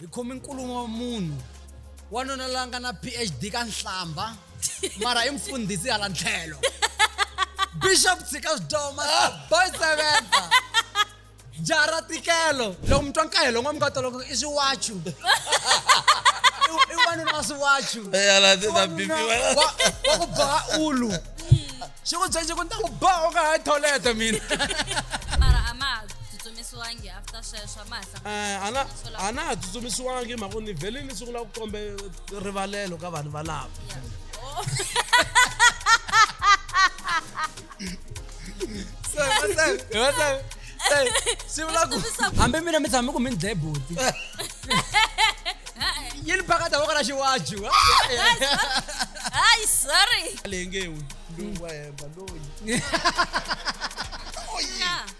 hi khomi nkulumo wa munhu wanuna la nga na phd ka nhlamba mara i mfundhisi hala ntlhelo bishop tshika swidoma boy seventa jaha ra tikelo loko mi twa nkahelo n'wa mi nga twa loko i swiwachu I- i wanuna wa swiwachu wa ku boha ulu xi ku byexi ku ni ta ku boha u nga ha tholete mina mara a ma ha tsutsumisiwangi after sweswo a ma ha Eh, a na- a na ha tsutsumisiwangi hi mhaka ni vhele ni sungula ku kombe rivalelo ka vanhu valava swi vula ku hambi mina mi tshame ku mi ni dlaye buti yi ni pakata voko ra xiwaji wa hayi sorry lengewi loyi wa hemba loyi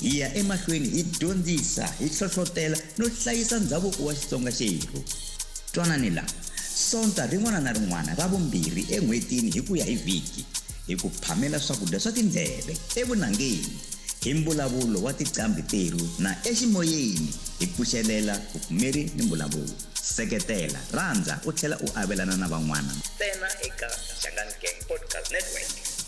Hi ya emahlweni hi dyondzisa, hi hlohlotela no hlayisa ndhavuko wa Xitsonga xerhu. Twanani la, Sonta rin'wana na rin'wana ra vumbirhi en'hwetini hi ku ya hi vhiki, hi ku phamela swakudya swa tindleve, evunangeni, hi mbulavulo wa tiqambhi terhu na eximoyeni hi pfuxelela vupfumeri ni mbulavulo. Seketela, rhandza u tlhela u avelana na van'wana. Ntsena eka Shangani Gang Podcast Network.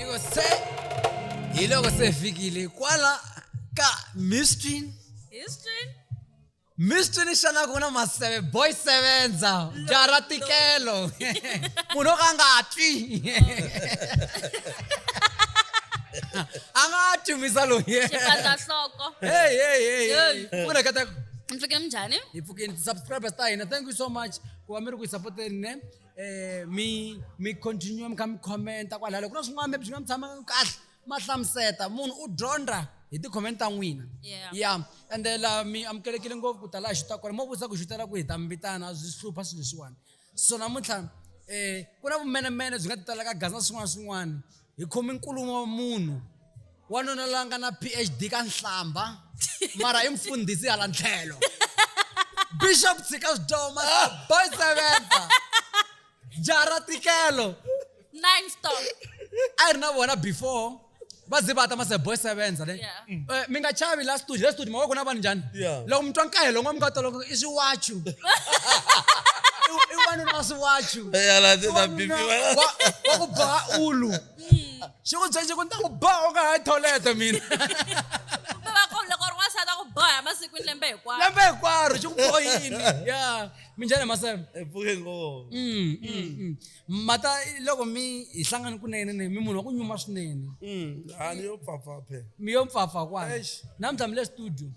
Iko se iloko sefikile kwala ka mistrin History? mistrin xana ku na maseve boy sevenza jara tikelo munhu o ka a nga twi a nga twi misa loyi Xipandzahloko. Hey, hey, hey, hey. Hey. Muna ka ta- Mpfhuke minjhani? hi pfukeni ti-subscribers ta hina thank you so much ku va mi ri ku hi sapoteni ne eh mi mi continue mi kha mi commenta kwalaho loko na swin'wana maybe swi nga mi tshama kahle ma hlamuseta munhu u dyondza hi ti-comment ta n'wina Yeah. ya ende la mi amukelekile ngopfu ku ta laha xuta kona mo vutisa ku xutela ku hi ta mi vitana byi hlupha swilo leswiwani so namuntlha um ku na vumenemene byi nga ti tala ka gaza swin'wana swin'wana hi khomi nkulumo wa munhu wanuna la nga na phd ka nhlamba mara i mfundhisi hala ntlhelo bishop tshika swidoma boy seventa jaha ra tikelo nine stop a ri na vona before va ze va ta ma se boy sevenza ne Yeah. mm. eh, mi nga chavi la studio la studio mavoko na vanhu njhani loko mi twa nkahelo n'wa mi nga twa loko i swiwachu i wanuna wa swiwachu wa ku boha ulu mm. xi ku byexi ku ni ta ku boha u nga ha tholete mina boha masikwini lembe hinkwaro lembe hinkwaro xi ku bohini ya minjhani maseve epfuke ngoo mata loko mi hi hlangani kunene ne mi munhu wa ku nyuma swinene Mm, a ni yo pfapfa phela mi yo mpfapfa kwana Eish. namuntlha mi le studio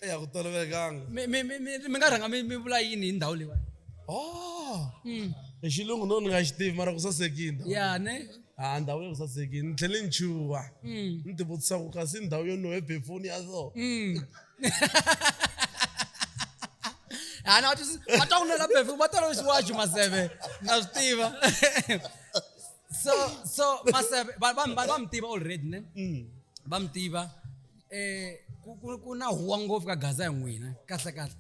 eya ku tolovelekanga mi mi- mi- mi- mi nga rhanga mi mi vula yini hi ndhawu leyiwani oh Mm. hi xilungu no ni nga xi tivi mara ku sasekini ya ne a ndhawu ya ku sasekini ni tlhele ni chuha Mm. ni tivutisa ku kasi ndhawu yo no hebefoni ya so Mm. ana vati vatauna la befe vatala xiwaxi maseve na swi tiva so so maseve va va- va- va mi tiva already ne va mi tiva eh ku- ku- ku na huwa ngopfu ka gaza ya n'wina kahle kahle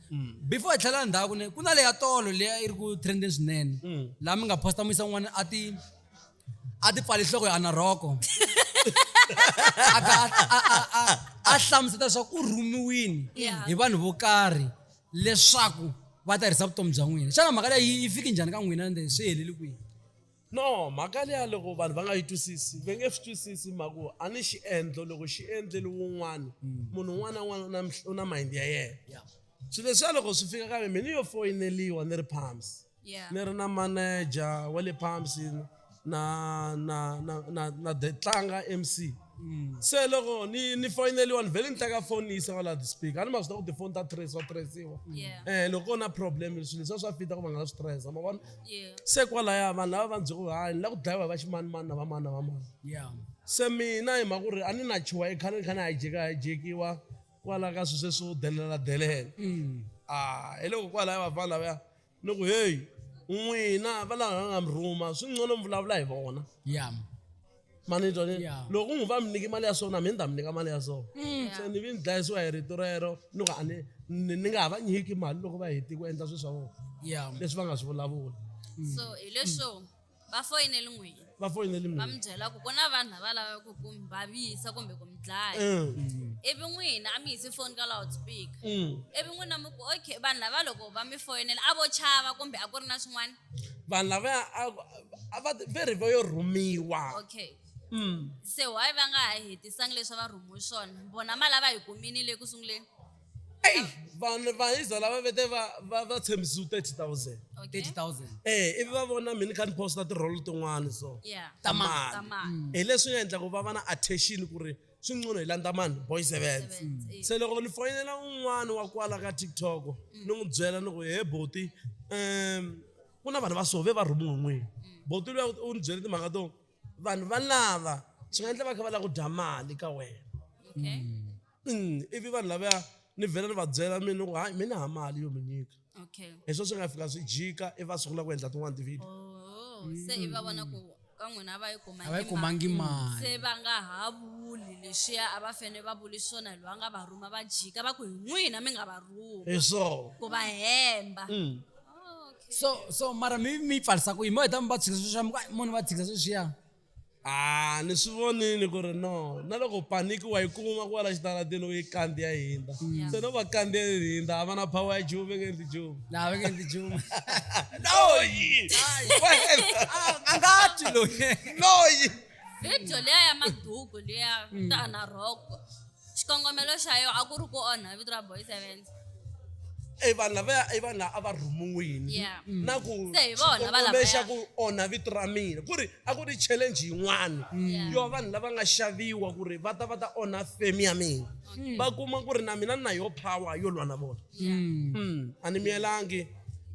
before hi tlhela ndhaku ne ku na leya tolo leya yi ri ku trendeni swinene laha mi nga posta muyisa n'wana a ti a ti pfali nhloko ya ana rhoko a ka a- a- a- a- a hlamuseta leswaku u rhumiwini Yeah. hi vanhu vo karhi leswaku va ta herisa vutomi bya n'wina xana mhaka leyi yi fiki njhani ka n'wina ende swi heleli kwihi no mhaka leya loko vanhu va nga yi twisisi va nge swi twisisi mhaku a ni xiendlo loko xi endleli wun'wana munhu un'wana na un'wana u na mih- u na mayindi ya yena swilo leswiya loko swi fika ka mina yo foyineliwa ni ri phams yeah. ni ri na manager wa le pumps na na na na na the tlanga mc mm. se loko ni ni foyineliwa ni vhele ni tlaka foni ni yisa va laha ti-speaker a ni ma swi ta ku tifoni ta trace wa traciwa um eh, loko ko na problem swilo leswiya swa fita ku va nga la swi trace ma vona se kwalaya vanhu lava va ndzi ku hayi ni la ku dlayiwa hi va ximanimani na vamani na vamani se mina hi mhaka ku ri a ni na chuwa i khale ni kha ni hijeka hijekiwa kwalaya ka swilo sweswo delela delela mm. a ah, hi loko kwalaya vafana lavaya Ni ku, Heyi, n'wina va lava va nga mi rhuma, swi ngcono mi vulavula hi vona. Ya. Ma ni twa? Ni- Ya. Loko ku ngu va mi nyike mali ya so na mina ni ta mi nyika mali ya so. Se ni vi ni dlayisiwa hi rito rero, ni ku a ni ni- ni nga ha va nyiki mali loko va hete ku endla swilo swa vona Ya. leswi va nga swi vulavula. so hi leswo va foyineli n'wini va foyineli va mi byela ku ku na vanhu lava lavaka ku ku mi vavisa kumbe ku mi dlaya eh. ivi n'wina a mi yisi foni ka loud speaker mm. ivi n'wina mi ku okay vanhu lava loko va mi foyinela a vo chava kumbe a ku ri na swin'wana vanhu lavaya a va very va yo rhumiwa okay mm. se why va nga ha hetisangi leswi va rhumiwe swona vona ma lava hi kumini le ku sunguleni eyi vanhu va iza lava vete va va va tshembisiwe thirty thousand Okay. 30000 eh ivi va vona mina kha ni posta tirholo tin'wana so Yeah. ta Ta mali mali. hi leswi nga endla ku va va na attention ku ri swi ncono hi landza mani boys events Events, eh. se loko ni foyinela un'wana wa kwala ka tiktok ni n'wi byela ni ku he boti um ku na vanhu va sove va rhumiwe n'wini boti luya u ni byele timhaka to vanhu va lava swi nga endla va kha va lava ku dya mali ka wena Okay. ivi vanhu lavaya ni vhela ni va byela mi ni ku hayi mi ni ha mali yo mi nyika okay hi swo swi nga fika swi jika i va sungula ku endla tin'wana ti-video oh se i va vona ku ka n'wina a va yi a va yi kumangi mali se va nga ha vuli lexiya a va fane va vuli swona loyi a nga va rhuma va jika va ku hi n'wina mi nga va rhuma hi swo ku va hemba Mm. so so mara mi mi yi pfarisa ku yini mo heta mi va tshikisa sweswiya mi ku, "Ai, munhu va tshikisa sweswiya Ah, ni swi vonile ku ri no na loko paniki wa yi kuma ku va la xitarateni u yi kandziya yi hindza se no va kandziya yi hindza a va na power ya juve nge ndzi juve laha va nge ndzi juma loyi a nga twi loyi loyi video leya ya maduku leya ta na rhoko xikongomelo xa yo a ku ri ku onha vito ra boys event e vanhu lavaya i vanhu lava a va rhumiwini Yeah. Mm. na ku Se hi vona va xikongomelo lavaya. xa ku onha vito ra mina ku ri a ku ri challenge yin'wana Yeah. yo vanhu lava nga xaviwa ku ri va ta va ta onha fame ya mina va kuma ku ri na mina ni na yo power yo lwa na vona Mm. Mm, a ni miyelangi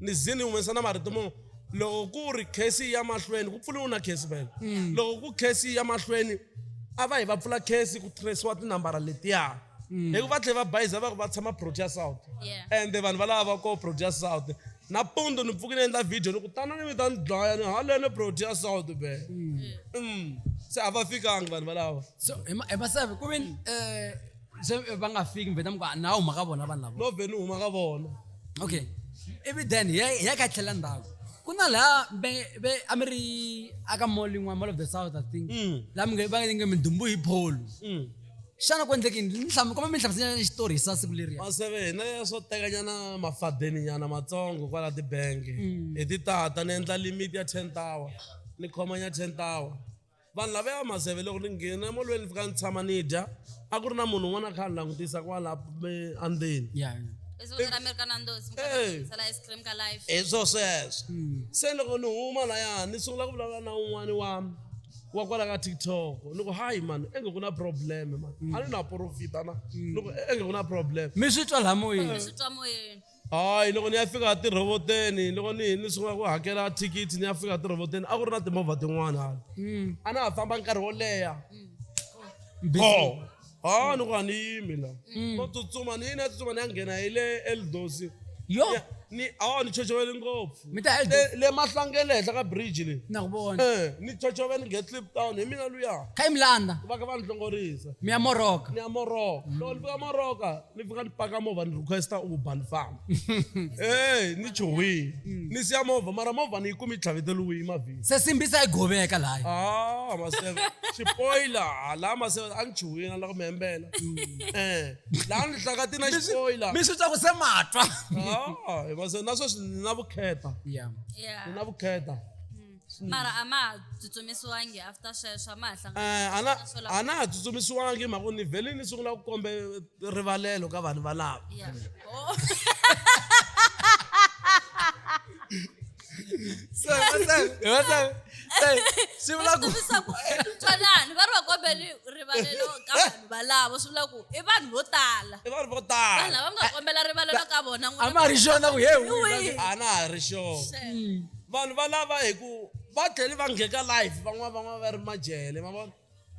ni ze ni humesa na marito mo loko ku ri khesi ya mahlweni ku pfuriwe na khesi vele mm. loko ku khesi ya mahlweni a va hi va pfula khesi ku tirhisiwa tinambara letiya mm. hi ku va tlhela va bayiza va ku va tshama protea south ende vanhu va lava va ko protea south napundu ni pfuki ni endla video ni ku tana ni mi ta ni dlaya ni halene protea south be mm. se a va fikangi vanhu valava so hi masavi ku ve um eh, se eh, va nga fiki mbheta mi ku na huma ka vona vanhu lavo no vhe ni huma ka vona okay ivi then hi ya ka tlhela ndhaku ku na laha ve a mi ri aka mall yin'wana mall of the south i think mm. laha mi va nge mindumbu hi pholo mm. xana ku endleke kuma mi hlamusela xitori hi sa siku leriya maseve hina ya swo tekanyana mafadeni nyana matsongo kwala tibangi mm. hi titata ni endla limit ya ten tower ni khomanya ten tower vanhu lava ya mazeve loko ni nghena emolweni ni fika ni tshama ni dya a ku ri na munhu un'wana a kha a ni langutisa kwala me- andzeni Yeah. Izulu ra America na ndozi, mi kota Eh. ku tsala ice cream ka live. hi swo sweswo se loko ni huma laya ni sungula ku vulavula na un'wani wa wa kwala ka tiktok ni ku hayi mani enge ku na problem mani a ni na profita na ni ku enge ku na problem mi swi twa laha moyeni Swi twa moyeni. Hayi, loko ni ya fika a tirhoboteni loko ni hi ni sungula ku hakela thikithi ni ya fika a tirhoboteni a ku ri na timovha tin'wana hala hmm. a na ha famba nkarhi wo leha hmm. go ha ni ku a ni yimi la hmm. no tsutsuma ni yini ya tsutsuma ni ya nghena hi le eldosi yo ni awa ni chochovele ngopfu le mahlangele henhla ka bridge le eh, ni chochove ni ngetlip town hi mina luya kha yi milanda va ka va ni hlongorisa mi ya moroka ni ya moroka loko ni fika moroka ni fika ni paka movha ni requesta uber ni famba e ni chuhile mm. ni siya movha mara movha ni yi kumi yi tlhaveteliwile mavhini se simbisa yi goveka laha a ah, maseve xipoyila ah, laha maseve a ni chuhile na la ku mi hembela um eh, laha ni hlakati na xipoyila mi swi twa ku se matwa ah, maseve na sweswi ni na vukheta ni na vukheta mara a ma ha tsutsumisiwangi after sweswo a ma ha eh, a na ha tsutsumisiwangi mhaka ku ni vhele ni sungula ku kombe rivalelo ka vanhu valava oh. swi vula ku twanani va ri va kombeli rivalelo ka vanhu valavo swi vula ku i vanhu vo tala i vanhu vo tala vanhu lava mi nga kombela rivalelo ka vona a ma ha ri xona ku he a na ha ri xona Vanhu va lava hi ku va tlhele va ngheka live van'wana van'wana va ri majele ma vona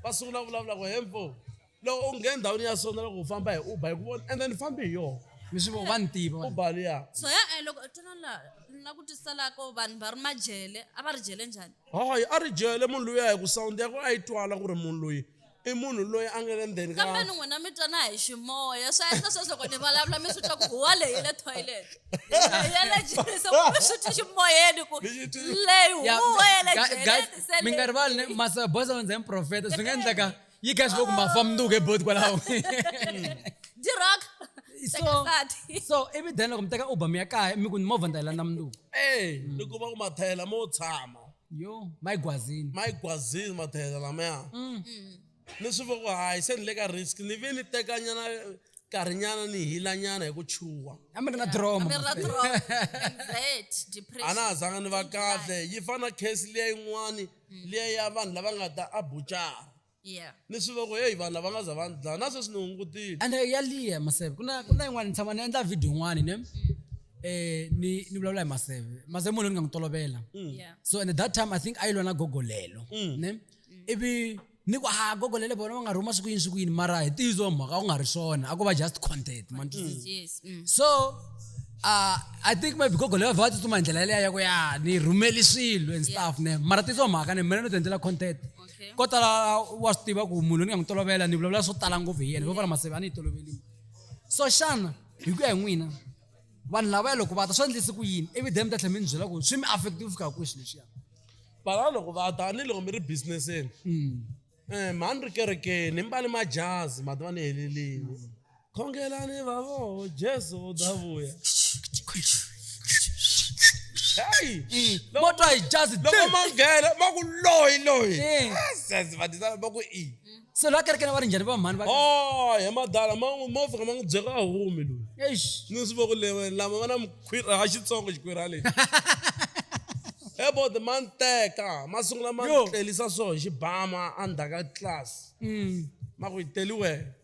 va sungula vulavula ku hembo loko u nghena ndhawini ya sona loko u famba hi uber hi ku vona ende ni fambi hi yona mi swi vona va ni tiva vanhu. uber liya so ya eh, loko twana la ni la ku twisisa la ko vanhu va ri majele a va ri jele njhani hayi a ri jele munhu loyi a hi ku sound ya ku a yi twala ku ri munhu loyi I munhu loyi a nga le ndzeni ka. Kambeni n'wina mi twana hi ximoya. Swa endla sweswi loko ni vulavula mi swi twa ku huwa leyi yi le toilet. Ya le jeleni se mi swi twi ximoyeni ku leyi huwa ya le jeleni se leyi. Mi nga rivali ne masa boss a ndzi profeta swi nga endleka yi kha swi ku ma fa mundzuku he boti kwalaho. Dirock. So so ivi then loko mi teka Uber mi ya kaya mi ku ni movha ni ta yi landza mundzuku. Eya ni kuma ku mathayela mo tshama. yo mayigwazini mayigwazini mathayela lamaya mm. mm. ni swi voko hayi se ni le ka risk ni ve ni tekanyana nkarhinyana ni hilanyana hi ku chuha a mi ri na droma a na ha zanga ni va kahle yi fana na case liya yin'wani mm. liya ya vanhu lava nga ta a bucara Yeah. ni swi va ku heyi vanhu lava nga za va ni dlaya na sweswi ni hungutile and eh, ya liya maseve ku na ku na yin'wana ni tshama ni endla video yin'wana ne um ni ni vulavula hi maseve maseve munhu ni nga n'wi tolovela Mm. Yeah. so and at that time i think a yi lwa na gogolelo ne ivi ni ku ha gogolele vona va nga rhuma siku yini siku yini mara hi tiyizo mhaka ku nga ri swona a ko va just content man Yes. Mm. so uh, i think maybe gogolelo va va tsutsuma hi ndlela yaleya ya ku ya ni rhumeli swilo and stuff ne mara tiyizo mhaka ne mina no ti endlela content okay. ko tala wa swi tiva ku munhu ni nga n'wi tolovela ni vulavula swo tala ngopfu hi yena hikokwala maseve a ni yi tolovelini so xana hi ku ya hi n'wina vanhu lavaya loko va ta swi endlisi ku yini ivi dem ta tlhela mi ni byela ku swi mi affective fika kwihi xilo xiya vana loko va ta ni loko mi ri businesseni um mhani ri kerekeni mi mbale majazi mati va ni helelini khongelani vavoho jesu u ta vuya heyi mo twa hi jazi loko ma nghena ma ku loyi loyi Eh. sesi vadizana va ku i se loyi a kerekeni va ri njhani va mhani va o hi madala ma n'wi- mo fika ma n'wi byeka a humi loyi Eish. ni swi voko lewe lama va na mukhwira ha xitsongo xikhwira lexi ebode ma ni teka ma sungula ma Yo. ni tlelisa so hi xibama endzhaku ka tlilasi Mm. ma ku yi teli wena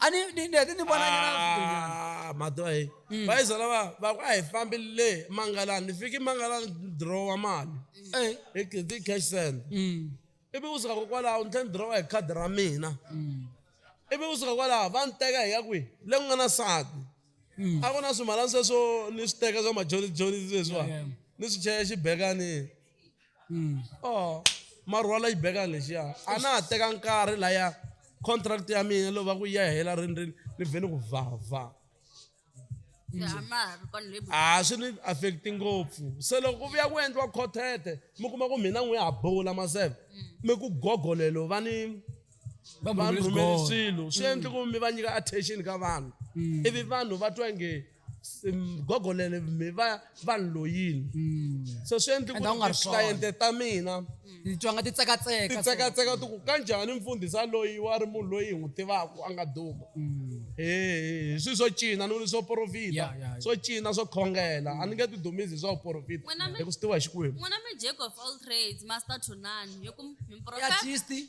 ani ni ni hete ni vona nga na swin'wanyana. Ah, madoha he va yi byela va va ku a hi fambi le mangalani ni fiki mangalani ni dirowa mali Eh, hi hi ti cash send mm, ivi kusuka ko kwalaho ni tlhe ni dirowa hi khadi ra mina mm, ivi kusuka kwalaho va ni teka hi ya kwihi le ku nga na sati mm. a ku na swimalani sweswo ni swi teka swa majoni joni leswiwa Yeah, yeah. ni swi chela xibekani Oh marhwala yi beka lexiya a na ha teka nkarhi laya contract ya mina lova ku ya hela rini rini ni vhe ni ku vhavha a swi ni affect ngopfu se loko ku vuya ku endliwa khothethe mi kuma ku mina n'wi ya ha bula maseve mi ku gogo lelo va ni va rhumeli swilo swi endli ku mi va nyika attention ka vanhu ivi vanhu va twa nge gogo lele mi va vanhu loyini mm. so swi endli kucliente ta mina titwa nga ti tsekatseka ti tsekatseka ti ku kanjhani mfundhisa loyi wa ri munhu loyi hi n'wi tivaka a nga duma mm. he swi swo cina ni swo porofita swo cina swo khongela a ni nge ti dumisi hi swa vuporofita hi ku swi tiva hi xikwembu n'wina mi jack of all trades master tunan hi ku mi profet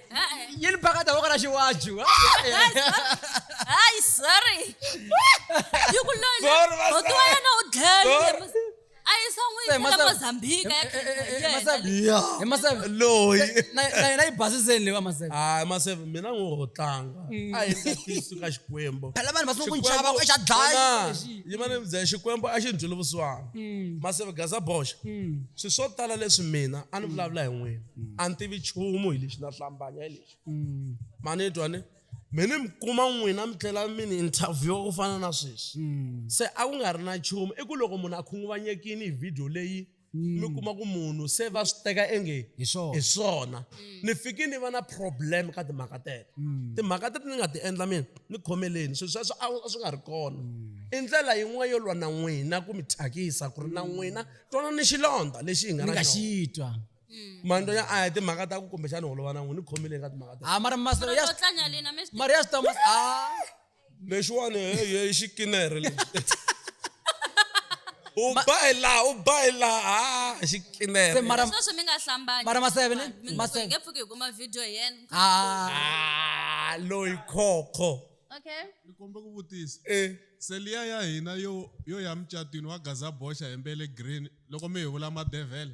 yini pakata wo kana xiwaju hayi sorry yi ku loyihotiwa yena u dlele a yisa n'wiyitela mozambika hi maseve loyi na yi basiseni leyi va maseve hayi maseve mina n'wi ho tlanga mm. a yi tatisi ka xikwembu phela vanhu va sungula ku nchava ku xa dlaya yima ni byela xikwembu a xi ndluli vusiwana mm. maseve gaza boxa mm. swi swo tala leswi mina a ni vulavula hi n'wina mm. a ni tivi nchumu hi lexi na hlambanya hi lexi mm. mani twa ni mi ni mi kuma n'wina mi tlhela mi ni interviewa ku fana na sweswi mm. se a ku nga ri na nchumu i ku loko munhu a khunguvanyekini hi vhidiyo leyi mi mm. kuma ku munhu se va swi teka enge hi swona mm. ni fiki ni va na problem ka timhaka teto mm. timhaka teto ni nga ti endla mina ni khomeleni swilo sweswo a swi nga ri kona i ndlela yin'wana yo lwa na n'wina ku mi thyakisa ku ri na n'wina twana ni xilondza lexi hi nga na xitwa Mm. manto ya a ya timhaka ta ku kumbexana holova na n'wi ni khomile ka timhaka ta ha mara masolo ya mara ya switomba a lexiwani heye i xikinere lexi u ba hi laha u ba hi laha a xikinere sweswi mi nga hlambani mara maseve ne maseve nge pfuki hi kuma video hi yena ah loyi khokho okay ni kombe ku vutisa eh seliya ya hina yo yo ya mucatwini wa gaza boxa hembele green loko mi hi vula madevhele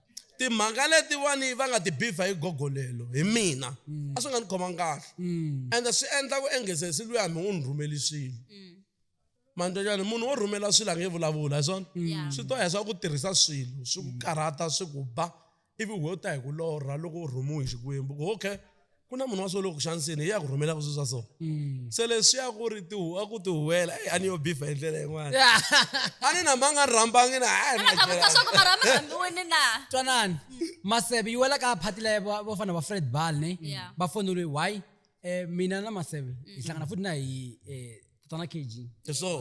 timhaka letiwani va nga ti bivha hi gogolelo hi mina mm. a swi nga ni khomanga kahle mm. and swi endla ku enghezesi luya mi u ni rhumeli swilo mm. manjhajani munhu wo rhumela swilo a nge vulavula hi swona swi to heswa ku tirhisa swilo swi ku karhata swi ku ba ivi wo ta hi ku lorha loko u rhumiwe hi xikwembu ku okay ku na munhu wa swo loko xaniseni hi ya ku rhumela ku swa so mm. se leswi ya ku ri a ku tihuwela eyi a ni yo bifa hi ndlela yin'wana a ni na manga ni rhambangi na twanani maseve yi wela ka phati laye vo fana va fred bal ni va foneliwe why um mina na maseve hi mm. hlangana futi na hi eh, tona kg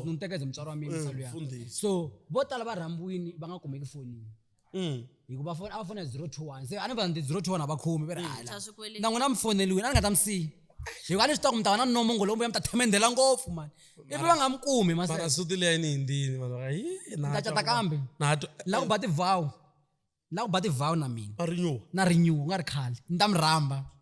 ni ni tekeze mutswari wa mina mm, so vo tala va rhambiwini va nga kumeki fonini Mm. hikuva foni a va fona hi 021 se a ni va ndi 021 a va khomi va ri hala Swa swikweleti. na n'wina mi foneliwini a ni nga ta mi siyi hikuva a ni swi tiva ku mi ta va na nomongo lowu mbuya mi ta themendela ngopfu mani ivi va nga mi kumi mara maseta suti leyi ni hindini vanhu va yi na ta cata kambe nato la ku ba tivhawu la ku ba tivhawu na mina va rinyuwa na rinyuwa u nga ri khale ni ta mi rhamba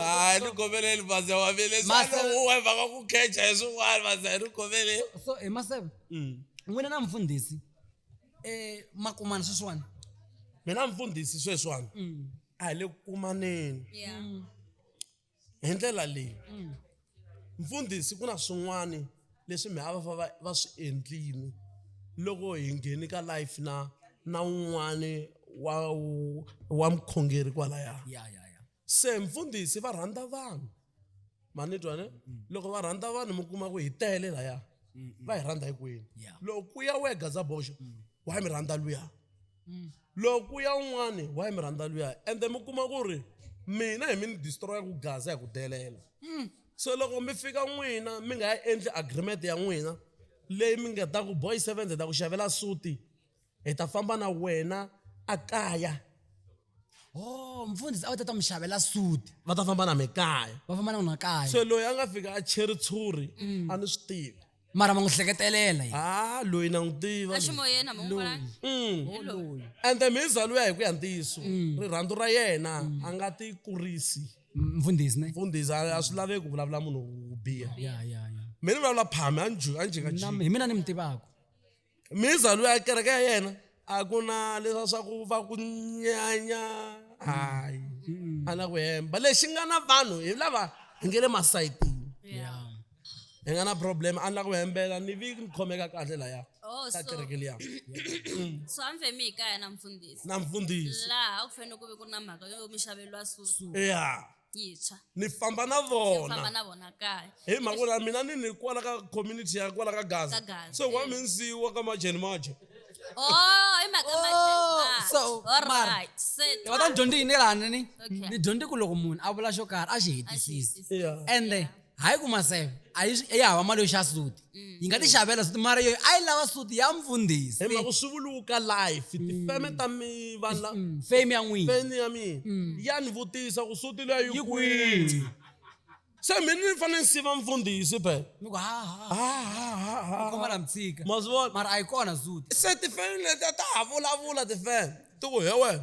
Ah, hi gomeleni bazi wa vile Ma xana seven- u weva ka ku khecha hi swin'wana bazi hi gomeleni so hi maseve Mm. n'wina na mfundhisi um makumana sweswiwani mina mfundhisi sweswiwani Mm. a hi le ku kumaneni Yeah. hi ndlela leyi Mm. mfundhisi ku na swin'wana leswi mi hava va va swi endlini loko hi ngheni ka life na na un'wana wa wa mukhongeri kwalaya ya ya ya se mfundhisi va rhandza vanhu ma ni twa ne mm. loko va rhandza vanhu mi kuma ku hi tele laya mm, mm. va hi rhandza hikwini loko ku ya wehe gazaboxo wa hi mi rhandza luya loko ku ya un'wani wa hi mi rhandza luya ende mi kuma ku ri mina hi mi ni destroya ku gaza hi ku delela so loko mi fika n'wina mi nga ya endli agreement ya n'wina leyi mi nga ta ku boy seventh hi ta ku xavela suti hi ta famba na wena ekaya oh mfundhisi a wu ta ta mi xavela suti va ta famba na mi kaya va famba na n'wina kaya se loyi a nga fika a cheri tshuri a ni swi tivi mara ma n'wi hleketelela yena ha loyi na n'wi tiva loyi. eximoyeni hambi n'wi vona Mm. hi loyi ende mhiza luya hi ku ya ntiyiso rirhandzu ra yena a nga ti kurisi M- mfundhisi ne mfundhisi a a swi laveki ku vulavula munhu wo biha ya ya ya mi ni vulavula phami a ni ju- a ni jikajiki Nam- hi mina ni mi tivaka mindzhwalo ya kereke ya yena a ku na leswa swa ku va ku nyanya hayi a na ku hemba lexi nga na vanhu hi lava hi nge le masayitini hi nga na problem a na ku hembela ni vi ni khomeka kahle laya Oh, ka so, kereke liya so a mi femi hi kaya na mfundhisi na mfundhisi laha a ku fanele ku ve ku ri na mhaka yo mi xaveriwa suti ya yintshwa ni famba na famba vona na vona kaya hi mhaka ku la mina ni ni kwala ka community ya kwala ka Ka gaza Gaza, so wa eh. mi ndzi wa ka majeni maje oh hi mhaka Oh, majeni. so, all mara. right set ni kota ni dyondze yini lani ni Okay. ni dyondze ku loko munhu a vula xo karhi a xi hetisisi Axi- yeah. ende hayi ku maseve a yi swi- ya hava mali yo xava suti yi nga ti xavela suti mara yoyo a yi lava suti ya mfundhisi hi mhaka swi vuluka life tifeme ta mi vanhu la Mm, fame ya n'wina feni ya mina ya ni vutisa ku suti leyi yi Yi kwihi kwihi? se mina ni fanele ni siva mfundhisi pe ni ku haha khoma la mtshika ma swi vona mara a yi kona suti se tifeme leti ta ha vulavula tifeme ti ku he wena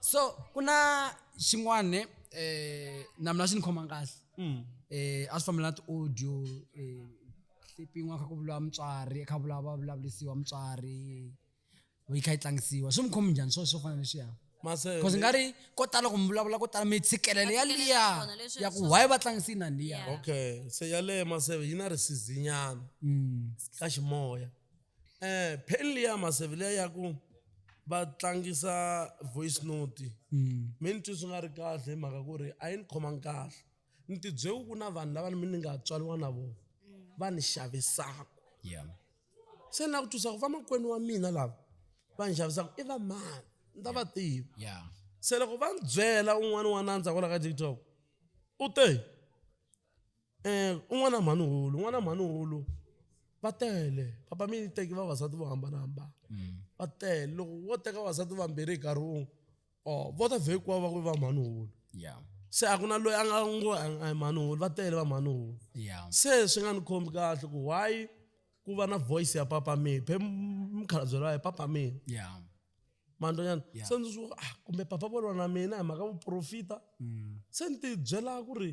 so kuna xin'wana eh na mina xi ni khoma kahle mm. eh a swi fambela na ti-audio eh hlipin'wa kha ku vuriwa mutswari kha vula va vulavurisiwa mutswari yi kha yi tlangisiwa swi mi khomi njhani swo swo fana leswiya bcause nga ri ko tala ku mi vulavula ko tala mi tshikelele ya liya ya ku why va tlangisi na liya okay se yaleyo maseve yi na risizinyana mm. ka ximoya Eh, pen liya maseve liya ya ku va tlangisa voice note hmm. mi ni twi swi nga ri kahle hi mhaka ku ri a yi ni khomangi kahle ni tibyeku ku na vanhu lava ni mi ni nga tswariwa na vona va ni xavisaka se ni la ku twisa ku vamakwenu wa mina lava va ni xavisaka i vamani ni ta va tiva se loko va ni byela un'wana wa nandza kwala ka tiktok u te um un'wana na mhani hulu un'wana na mhani hulu va tele papa mi teki vavasati vo hambanahambana mm. va tele loko wo teka vavasati vambirhi hi nkarhi wun'we o oh, vo ta vhekiwa va ku va mhani hulu se a ku na loyi a nga ngo a mhani hulu va tele va mhani hulu se swi nga ni khombi kahle ku why ku va na voice ya papa mi phe mukhalabye lowa hi papa mi manjwanyana yeah. se ndzi swi ah kumbe papa va lwa na mina hi mhaka vuprofita mm. se ni ti byela ku ri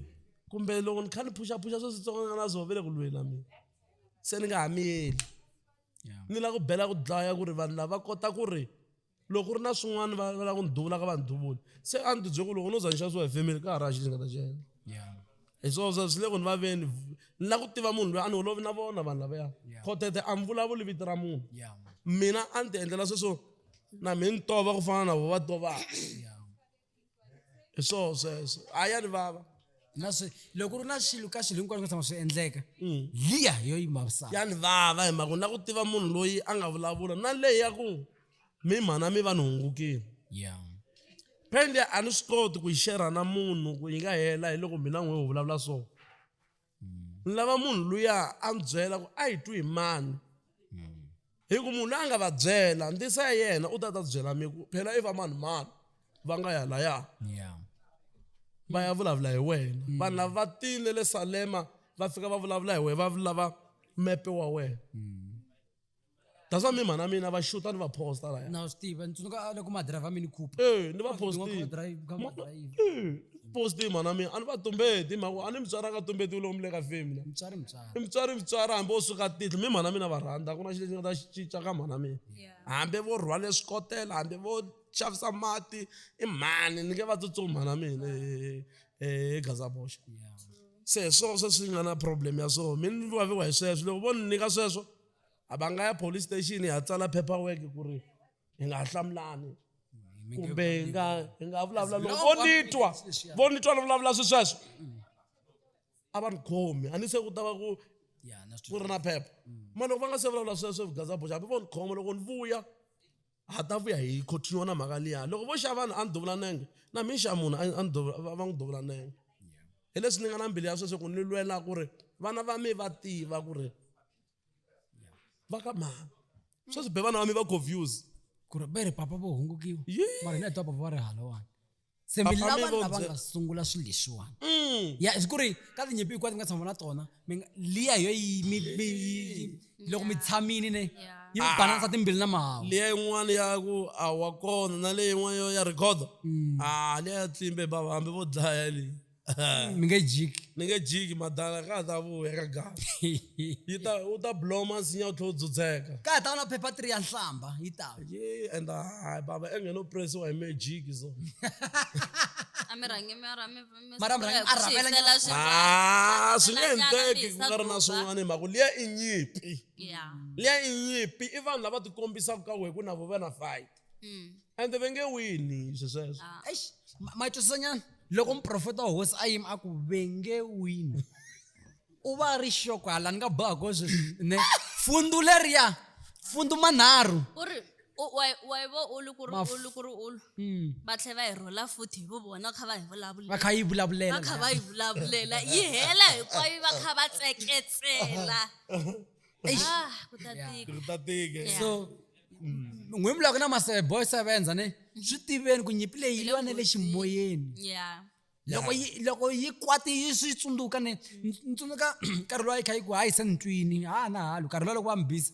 kumbe loko ni kha ni phuxaphuxa swo switsongana na swo vele ku lweni na mina se ni nga ha miyeli ni lava ku bela ku dlaya ku ri vanhu lava kota ku ri loko ku ri na swin'wana va lava ku ni duvula ka va ni duvula se a ni tibyele ku loko no za ni xanisiwa hi family ka ha ri ha xi lexi nga ta xi endla hi swona swi le ku ni vaveni ni lava ku tiva munhu loyi a ni holovi na vona vanhu lavaya khotete a ni vulavuli vito ra munhu mina a ni ti endlela sweswo na mi ni tova ku fana na vo va tovaka hi swoho sweswo a ya ni vava na swi loko ri na xilo ka swilo hinkwaswo tshama swi endleka mm. liya hi yo yi mavisaka ya ni vava hi mhaka ni lava ku tiva munhu loyi a nga vulavula na leyi ya ku mi mhana mi va ni hungukile yeah pende a ni swi koti ku yi shera na munhu ku yi nga hela hi loko mina n'we wu vulavula so hmm. ni lava munhu luya a ni byela ku a yi twi hi mani hmm. hi ku munhu loyi a nga va byela ndisa ya yena u ta ta byela mi ku phela i va mani mani va nga ya laya va ya vulavula hi wena hmm. vanhu lava va tile le salema va fika va vulavula hi wena va lava mepe wa wena that's why mi mhana mina va xuta ni va posta laya na swi tiva ni tsundzuka a loko madriver mini coupe ee ni va postile postile mhana mina a ni va tumbeti hi mhaka a ni mutswari a nga tumbeti u lomile ka femi la mutswari mutswari i mutswari mutswari hambi o suka tihlo mi mhana mina va rhandza ku na xilo lexi nga ta xi cinca ka mhana mina hambi vo rhwale swikotela hambi vo xavisa mati i mhani ni nge va tsutsumi mhana mina e gazaboxa se hi swona swe swi nga na problem ya swona mi ni vaviwa hi sweswo loko vo ni nyika sweswo a va nga ya police station hi ya tsala paper work ku ri hi nga hlamulani kumbe hi nga hi nga vulavula loko vo ni twa vo ni twa ni vulavula swi sweswo a va ni khomi a ni se ku ta va ku ku ri na phepha mm. mara loko va nga se vulavula sweswo vugazaboxa hambi vo ni khoma loko ni vuya Ha ta vuya hi continue na mhaka liya. Loko vo xa vanhu a ni duvula nenge, na mina ni xa munhu a ni duvula va n'wi duvula nenge. Hi leswi ni nga na mbilu ya sweswo ku ni lwela ku ri vana va mina va tiva ku ri va ka mani. Sweswi be vana va mina va confuse. Ku ri va ri papa vo hungukiwa mara hina hi twa papa va ri halawani. se mi Papa, mi lava vo lava bye- nga sungula swilo leswiwani Mm. ya hi ku ri ka tinyimpi hinkwato mi nga tshama na tona mi nga- liya hi yo yi- mi- mi- yi- yi- loko mi tshamile ne Yeah. yi mi Ah. balansa timbili na mahawu liya yin'wana ya ku a wa kona na leyi yin'wana yo ya rhikhodo Mm. a liya ya tsimbe bava hambi vo dlaya leyi ni nge jiki ni nge jiki madala ka ha ta vuya ka gava yi ta u ta blow masinya u tlhe u dzudzeka ka ha ta va na phepha three ya nhlamba yi ta ye and hayi baba enghene u presiwa hi magic so a mi rhangi mi ra mi mi Mara mi rhangi- a rhambela nyana. swi Ah, swi nge endleki ku nga ri na swin'wana hi mhaka ku liya i nyimpi ya liya i nyimpi i vanhu lava tikombisaka ka wehe ku na vo va na fight mm. ende va nge wini swi sweswo ah, eish ma- ma twisisanyana loko muprofeta wa hosi a yima a ku ve nge wini u va a ri xoko hala ni nga boha ko sweswi ne fundu leriya fundu manharhu u ri u- wa- wa yi vo ulu ku ri Maf- ulu ku ri ulu Mm. va tlhe va hi rhula futhi hi vu vona va kha va hi va vulavulela kha yi va vulavulela kha va yi vulavulela yi hela hinkwayo va kha va tseketsela Ah, ku ta tika ku ta tika Yeah. so n'wi vulaka na maboy seven a ni swi tiveni ku nyimpi leyi yi va na le ximoyeni loko yi loko yi kwati yi swi tsundzuka ni ni tsundzuka nkarhi lowu a yi kha yi ku hayi se ni twini ha na halo nkarhi lowu loko va mi biza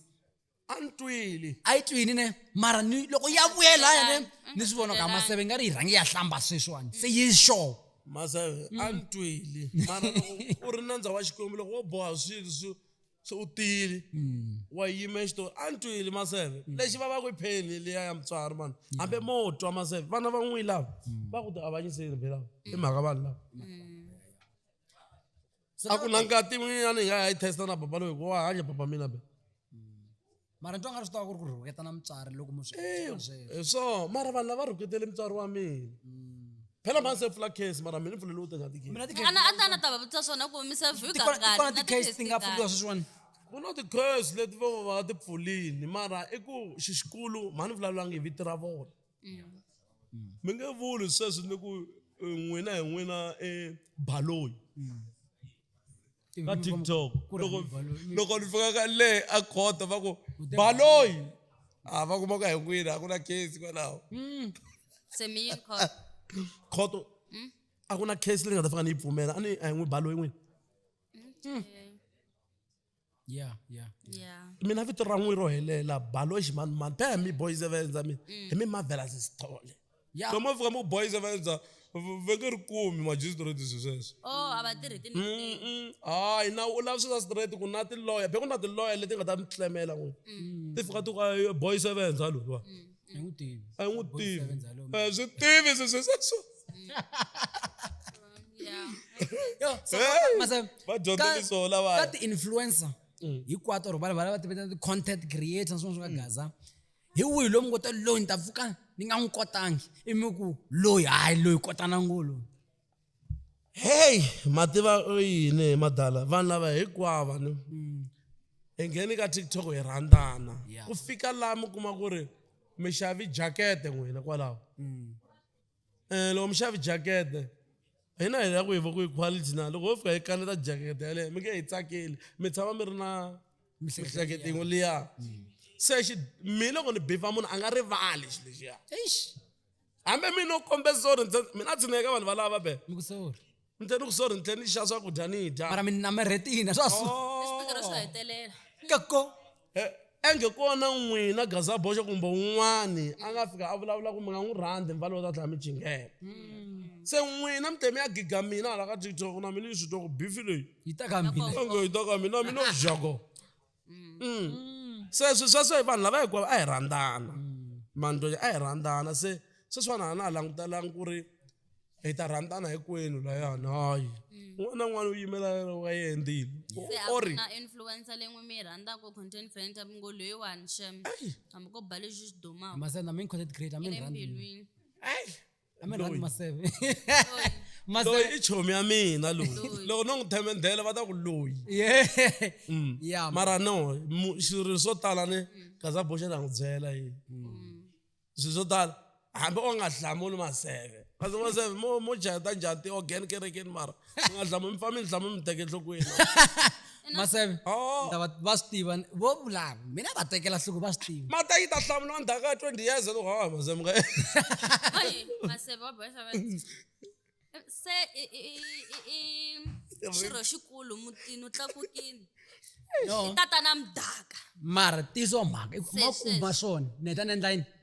a ni twile a yi twini ne mara ni loko ya vuyela ya ne ni swi vona ka maseve nga ri yi rhangi ya hlamba sweswiwani se yi sure maseve a ni twile mara loko u ri nandza wa xikwembu loko wo boha swilo swi se u tile mm. wa yima exitori a ni twile maseve mm. lexi va va ku i pheni liya ya mutswari vanhu mm. hambe mo twa maseve vana va n'wi lava va ku ti avanyiseni phe lava i mhaka vanhu lava a ku na ngati mina ni nga ha yi testa na baba loyi ku wa hanya baba mina be mara ni twa nga ri swi tava ku ri ku rhuketana mutswari loko mu swi Ewu, sweswo hi swona mara vanhu lava rhuketele mutswari wa mina phela mhani se pfula case mara mina ni pfulele u teka tikesi mina ti-case- ana a ta na ta va vutisa swona ku mi se view ti kona- ti kona ti-case ti nga pfuriwa sweswiwani ku na ti-case leti vo va ti pfulini mara i ku xi xikulu mhani ni vulavulangi hi vito ra vona mi nge vuli sweswi ni ku eh, n'wina hi n'wina i baloyi ka tiktok loko loko ni fika ka le a khoda va ku baloyi a ah, va kuma ka hinkwini a ku na case kwalaho hmm. khoto hmm? a ku na case leyi nga ta fika ni yi pfumela a ni a hi n'wi baloyi n'wini hmm. ya ya ya mina vito ra n'wi ro helela baloyi ximanimani phela hi mi boys evendza mina hi mi marvelous sithole Yeah. so mo fika mo boys va endla va nge ri kumi magistrate swi sweswo oh a va tirhi ti Mm-mm. hayi na u lava sweswa straight ku na tiloya be ku na tiloya leti nga ta mi tlemela n'wini ti fika ti ku "Ay, boy sevenza loluwa a yi n'wi tivi a yi n'wi tivi sevenza lomu. Eh, swi tivi swi swi sweswo yeah Yo, so Hey, mase- va dyondza ka- leswo lavaya. ka ti-influencer hinkwato or vanhu valava va tiveta ti-content creator na swin'wana swi nga gaza hi wihi loyi mi ngo ta loyi ni ta pfuka ni nga n'wi kotangi i mi ku loyi hayi loyi kotana ngo loyi heyi mativa yini hi madala vanhu lava hinkwava ni mm. hi ngheni ka tiktok hi rhandzana ku fika laha mi kuma ku ri mi xavi jakete n'wina kwalaho mm. Eh loko mixavi jakete hina hi ya ku hi va ku yi quality na loko ho fika hi kaneta jakete yaleyo mi nge hi tsakeli mi tshama mi ri na miehleketo yin'we liya se xi mi loko ni bifa munhu a nga rivali xi lexiya hambi mi no kombeza or mina tshineka vanhu valava be ni tlhe ni ku sorry ni tlhe ni xa swakudya ni dya mara mi namarhetina swa su xipikara swo hetelela ka ko Eh, enge kona n'wina gazaboxo kumbe un'wani a nga fika a vulavula ku mi nga n'wi rhandzi mvalo u ta tlhela mi jingela se n'wina mi te mi ya giga mina hala ka tiktok na mina ni swi twa ku bifi leyi yi ta ka mina onge yi ta ka mina mina u jago mm. Mm. mm. se swi sweswo hi vanhu lava hikwavo a hi rhandzana mm. mandlonya a hi rhandzana se sweswiwana hana a langutelanga ku ri hi ta rhandzana hinkwenu layani hayi mm. un'wana na un'wana u yimela wa yendile orina influencer leyi n'wi mi yi rhandzaka content creator mi ngo loyiwani xem hambi ko ba lexi xi dumaka masena mi content creator mi rhandzilwini a mi rhandi maseve Loyi. maseve loyi i chomi ya mina loyi Loyi. loko no n'wi themendhela va ta ku loyi yeah Mm. Yeah, mara no mu- swilo swo tala ni kaza boxe na n'wi byela yi swilo swo tala hambi o nga hlamuli maseve kasi maseve mo mo jaheta njhani ti-organ kerekeni mara mi nga dlama mi fa mi dlama mi teke enhlokweni maseve Oh. ndava va swi tiva vo vulava mina va tekela nhloko va swi tiva mata yi ta hlamula wa ndhaka ya 20 years loko ha maze mi nga Oy, maseve wa boyisa va se i- i- i- i- i xirho xikulu mutini u tlakukile no tatana mdaka mara tizo mhaka i kuma Sweswi. kumba swona ni heta ni endla yini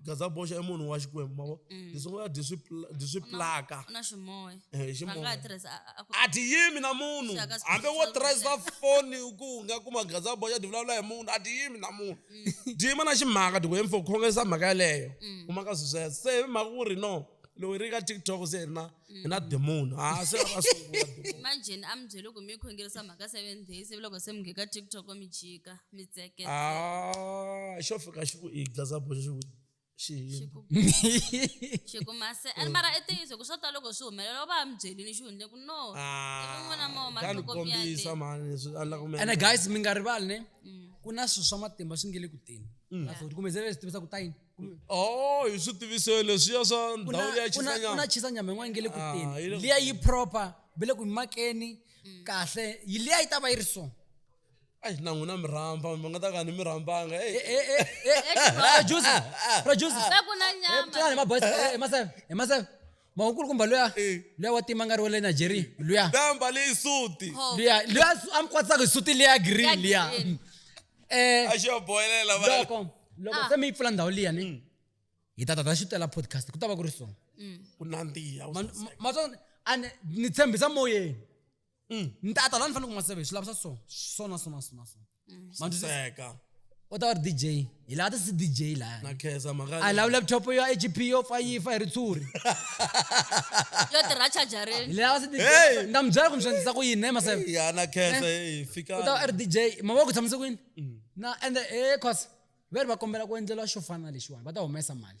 gaza boxa i munhu wa xikwembu mavo mm. leswi nga dyi dyi swi plaka na ximoya eh, ximoya a dyi yimi na munhu hambi wo tirhisa foni ku nga kuma gaza boxa dyi vulavula hi munhu a dyi yimi na munhu mm. dyi yima na ximhaka dyi ku hemfo khongesa mhaka yeleyo mm. kumaka swi sweswo se hi mhaka ku ri no loyi ri ka tiktok se ri na mm. na demoni ha se va sungula imagine a mi byele ku mi khongerisa mhaka seven days ivi loko se mi ngheka tiktok mi jika mi tseke ah, xo fika xi ku i gaza boxa xi ku xikumase and mara i ntiyiso ku swo ta loko swi humelela va mi byelini xi hundle ku noene guys mi nga rivali ne mm. ku na swilo swa matimba swi nge le ku teni mm. kumezele swi tivisa ku ta yini oh hi swi tiviso leswiya swa ndhawu ya xisanyama una chisa nyama yin'wana nge le ku ah, teni liya yi proper ve le ku yi makeni mm. kahle yi liya yi ta va yi ri so ai na n'wina mi rhamba mi nga ta ka ni mi rhambanga emaseve mhaka nkulukumba luya Eh. luya wa tima nga ri wa le nigeria luya la mbale isuti Oh. luya luya su- a mi kwatisaka hi suti liya green Ya liya green. um a xi va bohelela va loko loko Ah. se mi yi pfula ndhawu liya ni hi ta tata xitela podcast ku ta va ku ri so ku nandziha Ma- ma- ma- a ni- ni tshembisa moyeni mm. ni ta ta la ni fanele ku ma save hi swi lavisa so so na so na so na so mm. manduseka u ta va ri dj hi laha ti si dj laha lava laptop yo hp yo fa yi fa hi ritshuri yo tirha chajareni laha si dj ni ta mi byela ku mi swi endlisa ku yini ne maseve u ta va ri dj mama ku tshamise ku yini mm. na ende e cos ve ri va kombela ku endleriwa xo fana na lexiwani va ta humesa mali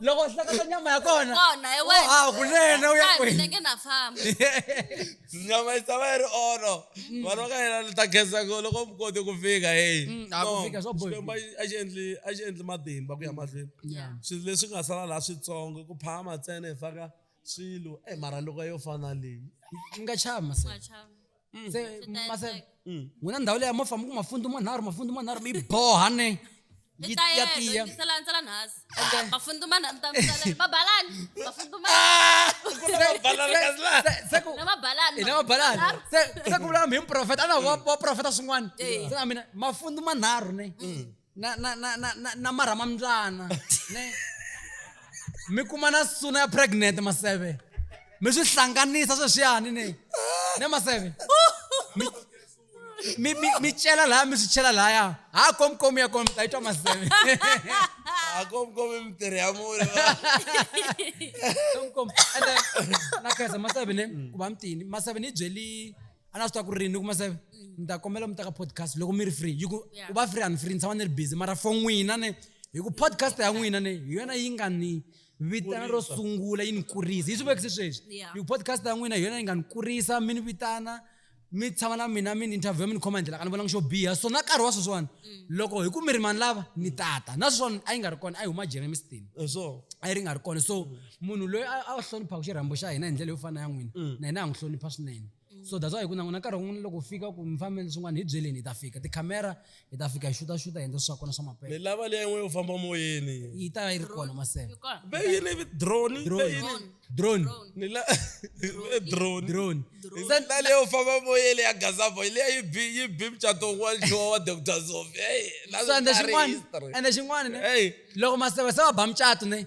loko hlakata nyama ya kona kona hi wena ah kunene u ya Kaya mina kwihi nge na famba nyama yi tshama yi ri oro vanhu va ka hina ni ta khensa ku loko mi kote ku fika heyi Mm, a ku fika swa boha. Xikwembu a xi- a xi endli a xi endli matimba ku ya mahlweni Yeah. swilo leswi nga sala laha switsongo ku phama ntsena hi faka swilo e mara loko yo fana leyi mi nga chava maseve Machava. Mm. se Swi ta maseve endleka. Mm. n'wina ndhawu leyi a mo famba ku mafundu manharhu mafundu manharhu mi yi boha ne Yi ta ya yena, tiya yingisela ntsela nhasi. Mafundumana mi ta mi tsalela. Mabalani. Mafundumana. Se- se ku- Na mabalani. hina mabalani Manharhu. se se ku vula mhi muprofeta a na wa wa profeta swin'wana Eya. se na mina mafundu manharhu ne na na na na na, na marhama mbyana ne mi kuma na suna ya pregnant maseve mi swi hlanganisa sweswiyani ne ne maseve mi mi mi mi cela laya mi swi chela laya ha komkomi ya kona mi ta yi twa maseve akomkomi mitirhi ya mune komkomi ende na khensa maseve ne ku va mitini maseve ni yi byeli a na swi tiva ku ri rini ni kuma se ni ta kombela mi teka podcast loko mi ri free yi ku Yeah. u va free a ni free ni tshama ni ri busy mara for n'wina ne hi ku podcast ya n'wina ne hi yona yi nga ni vitana ro sungula yi ni kurisa yi swi vekise sweswi Yeah. hi ku podcast ya n'wina hi yona yi nga ni kurisa mi ni vitana mi tshama na mina mi ni interview mi ni khoma hi ndlela ka ni vonanga xo biha so na nkarhi wa sweswiwani loko hi ku mi ri mani lava ni tata na sweswiwani a yi nga ri kona a yi huma germiston Eh, so a yi ri nga ri kona so munhu loyi a a hloniphaka xirhambo xa hina hi ndlela yo fana ya n'wina Mm. na hina ha n'wi hlonipha swinene so that's why hi ku na n'wina nkarhi wun'wana loko u fika ku mi fambeni swin'wana hi byeleni hi ta fika tikhamera hi ta fika hi xuta xuta hi endla swa kona swa ni maphepha lava leyi yin'we yo famba moyeni yi ta yi ri kona maseve Ikona. ve yini vi drone ve drone yini drone ni la ve drone drone se ni la leyi yo famba moyeni ya gazavo leyi yi bi yi bi mucato wun'wana xiwa wa dr zof ey la so ende swi nga ri xin'wana history. ende xin'wana ne Hey. loko maseve se va ba mucato ne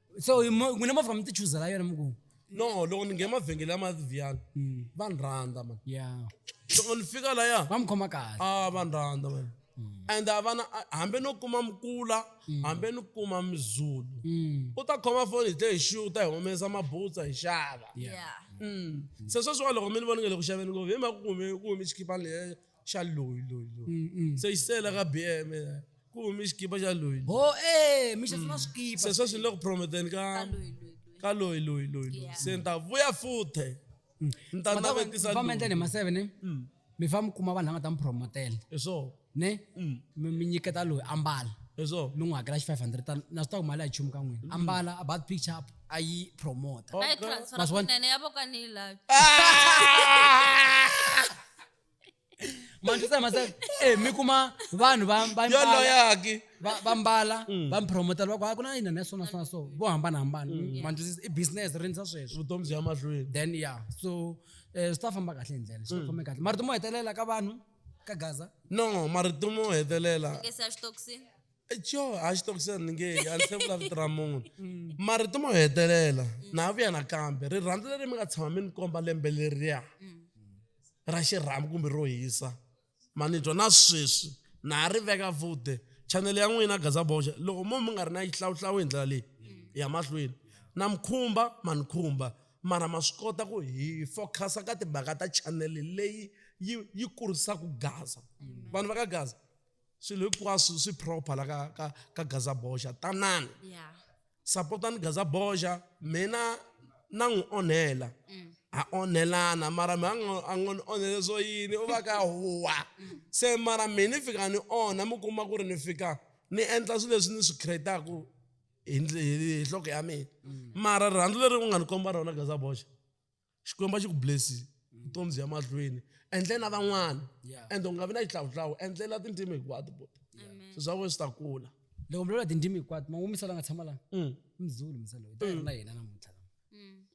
so hi mo- n'wina movha mi ti chuzela yona mi ku no loko ni nghena mavhengele ya mavhiyana Mm. va ni rhandza mani ya loko ni fika laya va mi khoma kahle a va ni rhandza mani and a vana a- hambi no kuma mukula hambi ni kuma mizulu Mm. u ta khoma foni hi tle hi xiu ta hi humesa mabutsa hi xava Yeah. Mm. se sweswiwa loko mi ni voni nge le ku xaveni ngo hi mhaka ku kume ku kume xikhipani leya xa loyi loyi loyi Mm, mm. se xi sele ka bm ku humi xikipa xa loyi ho e mi xi na swikipa se sweswi ni le ku prometeni ka Ka loyi, loyi, loyi. ka loyi loyi loyi loyi Yeah. se ni ta vuya futhe ni ta navetisa famba endleni hi loyi maseve ne Mm, mi fa mi kuma vanhu lava nga ta mi promotela hi swona ne Mm. mi mi nyiketa loyi ambala hi swona mi n'wi hakela xi 500 tani na swi ta ku mali a yi chumu ka n'wina ambala about picture up a yi promota Ka yi transfer Maswan- kunene ya vo ka ni yi lavi. Ah! mantlisa masaka e mi kuma vanhu va va yo mbala loyaki va va mbala va mi promotela va ku "Ah, ku na yini na swona swona so vo hambanahambana mantlisa i business ri ndza sweswo vutomi byi ya mahlweni then ya so eh, swi ta famba kahle hi ndlela swi ta famba kahle marito mo hetelela ka vanhu ka gaza no marito mo hetelela Nge se ya xitokisini. jo a xi tokisa ni nge a ni se vulavutira munhu mm. marito mo hetelela mm. na vuya nakambe rirhandzu leri mi nga tshama mi ni komba lembe leriya mm. ra xirhamu kumbe ro hisa ma ni twa na sweswi na ha ri veka vute chanele ya n'wina gaza boxa loko mo mi nga ri na yi hlawuhlawu hi ndlela leyi ya mahlweni na mi khumba ma ni khumba mara ma swi kota ku hi focus-a ka timhaka ta chanele leyi yi yi kurisaka gaza vanhu va ka gaza swilo hinkwaswo swi proper la ka ka ka gaza boxa tanani yeah. sapotani gaza boxa mina na n'wi onhela mm. a onhelana mara mi a ngo ni onhele swo yini u va ka huwa mm. se mara mi ni fika ni onha mi kuma ku ri ni fika ni endla swilo leswi ni swi creataku hi nhloko ya mina mm. mara rirhandzu leri u nga ni komba rona gaza boxa xikwembu a xi ku blessi vutomi byi ya mahlweni endle na van'wana Yeah. ende u nga vi na xihlawuhlawu endlela tindzimi hinkwato bota swi swa wena swi ta kula loko mi lula tindzimi hinkwato ma wumisela nga tshama lana Mm. i muzulu misa loyi ta na yena namuntlha lama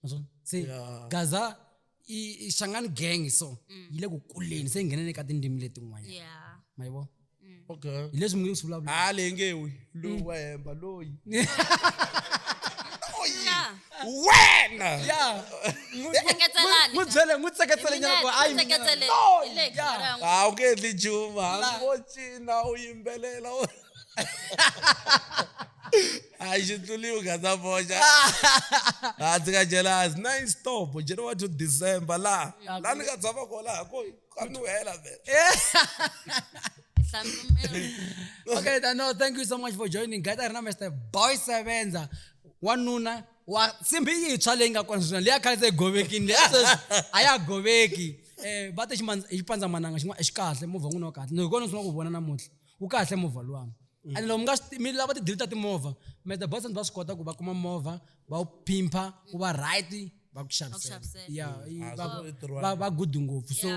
Naswona se Yeah. gaza i- i xangani gang so yi le ku kuleni se yi nghenene ka tindzimi letin'wanyana yeah ma yi vona okay hi leswi mi nge swi vulavula ha leyi nge wi loyi wa hemba loyi wena ya Tseketelani. n'wi byele n'wi tseketsele nyana ku hayi mina. Tseketsele. Hi le ka Yeah. rhangu. a wu nge endli nchumu hambi wo cina u yimbelela u- a xi tluliwi gaza boxa a ndzi nga jelasi na instapo january to december laha laha ni nga tshama kona ha koyi Qual não era, velho? É. okay, then, no, thank you so much for joining. Guys, I remember the boy sevenza. wanuna wa simbi yitsva leyi nga kona sweswi leyi a khale se govekini leyi sweswi a ya goveki um va te xipandzamananga xin'wana xi kahle movha n'wini wa kahle ni kona swi nga ku vona namuntlha wu kahle movha luwani mm. and loko mi nga mi lava tidili ta timovha meta boyfriend va swi kota ku va kuma movha va wu pimpha wu va right va ku xavisela ya mm. ah, va good ngopfu so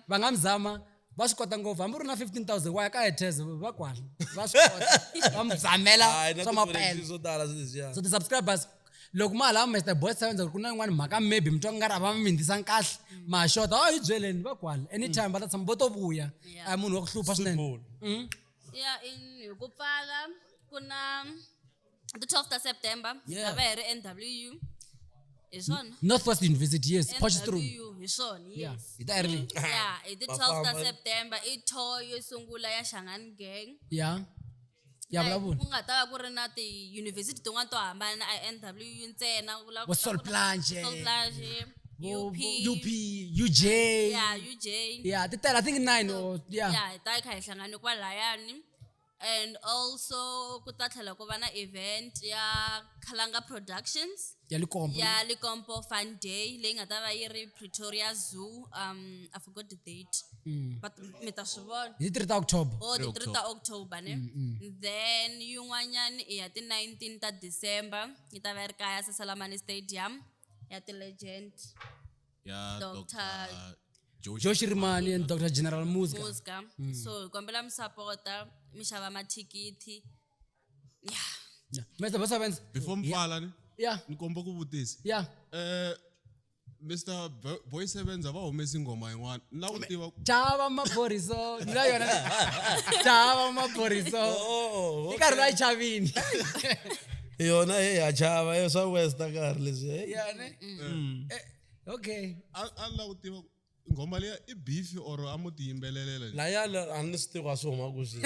va nga mi zama va swi kota ngopfu hambi u ri na 15000 wa ya ka ethes va kwala va swi kota va mi zamela swa mapenswo ti-subscribers loko ma halava mr boys seven ku na yin'wana mhaka maybe mi twa ku nga ri a va mi mindzisanga kahle mm. ma xota a oh, yi byeleni va kwala anytime va ta tshama vo to vuya a munhu wa ku hlupha swinene mm. ya hi ku pfala ku na the 12 ta september hi ta va hi ri nw hi swona northwest university yes potchstrom hi swona yes hi ta ri ya hi the 12 ta september i tour yo sungula ya shangani gang ya ya Like, vulavula ku nga ta va ku ri na tiyunivhesiti tin'wana to hambana i n w u ntsena ku lava vo ku- sol ku- planche Sol Plage, vo- UP, vo- up uj ya uj ya ti tele i think nine or ya ya hi ta yi kha hi hlangane kwalayani and also ku ta tlhela ku va na event ya khalanga productions ya likompo ya likompo fun day leyi nga ta va yi ri pretoria zoo um i forgot the date mm. but mi ta swi vona hi ti-three ta october o oh, ti-three ta october ne mm, mm. then yin'wanyana i ya ti-nineteen ta december yi ta va yi ri kaya sasalamani stadium ya ti-legend ya dr joe shirimani and dr general muska so hi kombela mi sapota mi xava mathikithi Yeah. Mr. Bosa Benz. before mfala ni Yeah. ni komba ku vutisa Yeah. eh mr Bo- boy sevenz a va humesi nghoma yin'wana ni lava ku tiva Chava maporiso. Ndza yona. Chava maporiso. Oh, I karhi va chavini. yona he ya chava yo swa westa karhi leswi hey. Yeah, ne? Eh, Okay. a a ni lava ku tiva ku Nghoma leya i beef or a mo ti yimbelelela. La ya a ni swi tivi a swi huma ku swi.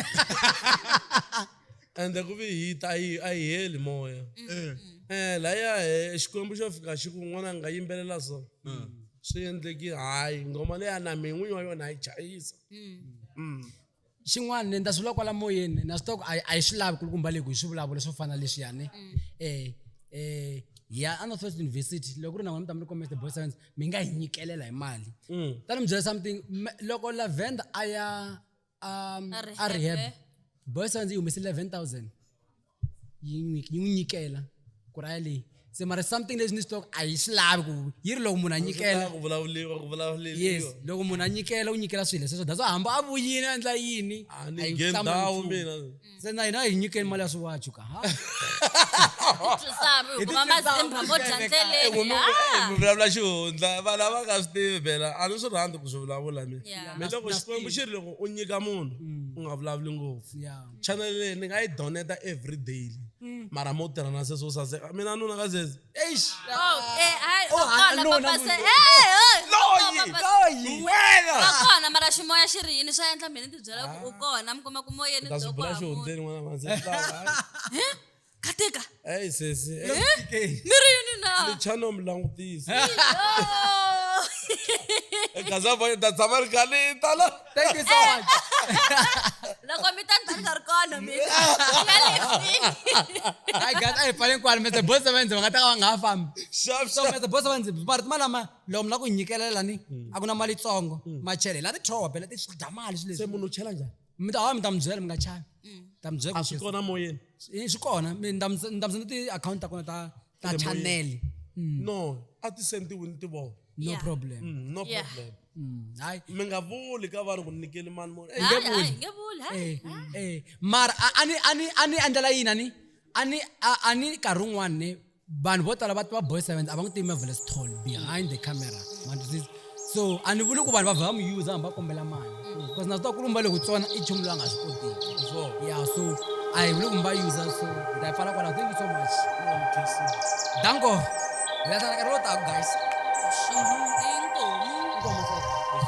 Ende ku vi hit a yi a yi heli moya. Eh. Eh la ya he Xikwembu xo fika xi ku n'wana nga yimbelela so. Swi endleki hayi nghoma leya na mina n'winyi wa yona ha yi chayisa. xin'wana ni ndza swi lwa kwala moyeni na swi tiva ku a a yi swi lavi kulukumba leyi ku hi swi vulavula swo fana leswiyani um um ya a northwest university loko ku ri na n'wina mi ta mi ri kombisa the boy science mi nga hi nyikelela hi mali Mm. ta ni mi byela something me- loko lavenda a ya um, A a rehab rehab. boy science yi humese eleven thousand yi n'wi yi n'wi nyikela ku raya leyi se mara something leswi ni swi twaka a yi swi lavi ku yi ri loko munhu a nyikela ku vulavuriwa ku vulavuriwa yes loko munhu a nyikela u nyikela swilo sweswo that's why hamba a vuyini a endla yini a a ni yi nge hlamba ndhawu nchumu. mina se na hina hi nyikeni mali ya swiwachu ka ha Twisani, hikuva mazimba mo dya ndzeleni. Munhu- eh, Ah! mi vulavula xihundla vanhu lava nga swi tivi phela a ni swi rhandzi ku swi vulavula mina Yeah. mi loko xikwembu xi ri loko u nyika munhu u nga vulavuli ngopfu ya channel leyi ni nga yi doneta every daily mm. mara mo tirha na sweswo saseka mina nuna ka sweswi eish oh, eh, oh, kona mara ximoya xi ri yini swa endla mina ni tibyela ku u ah. kona mi kuma ku moyeni katika Hey, sesi. Hey, TK. miri yini na Lichano mlangutisi. Oh. Kaza boy da samar kale tala. Thank you so much. loko mi ta ni ta ni nga ri kona mi ya lefini Hi guys, a hi pfaleni kwala metse boss va ndzi va nga ta ka va nga ha fambi. Sharp So sharp. metse boss va ndzi va ri mali lama loko mi lava ku nyikelela ni a ku na mali yitsongo macheleni la ti throwa bela ti swi dya mali swilo Se leswi. munhu chela njani? mi ta hawa mi ta mi byela mi nga chavi Mm. ta mi byela a ku swi Yesu- kona moyeni Eh, swi kona mi ni ta mi ni ta mi senda ti-akhawunti ta kona ta ta Emoyeni. channel no a ti sendiwi ni ti vona no Yeah. problem Mm, no Yeah. problem Mm, hayi mi nga vuli ka vanhu ku nikeli mani mona Hayi, hayi, Ah, nge vuli, hayi. Eh, eh. mara a- a ni- a ni- a ni endlela yini a ni a ni a- a ni nkarhi wun'wani ne vanhu vo tala va tiva boy seventh a va n'wi tivi marvelous tall behind the camera so a ni vuli ku vanhu va vha va mu user hambi va kombela mali because na swi ta ku lumba loko tsona i nchumu loyi a nga swi kotiki ya so a hi vuli ku mi va user so ni ta yi pfala kwalaho thank you so much danko hi lahlana nkarhi lowu taku guys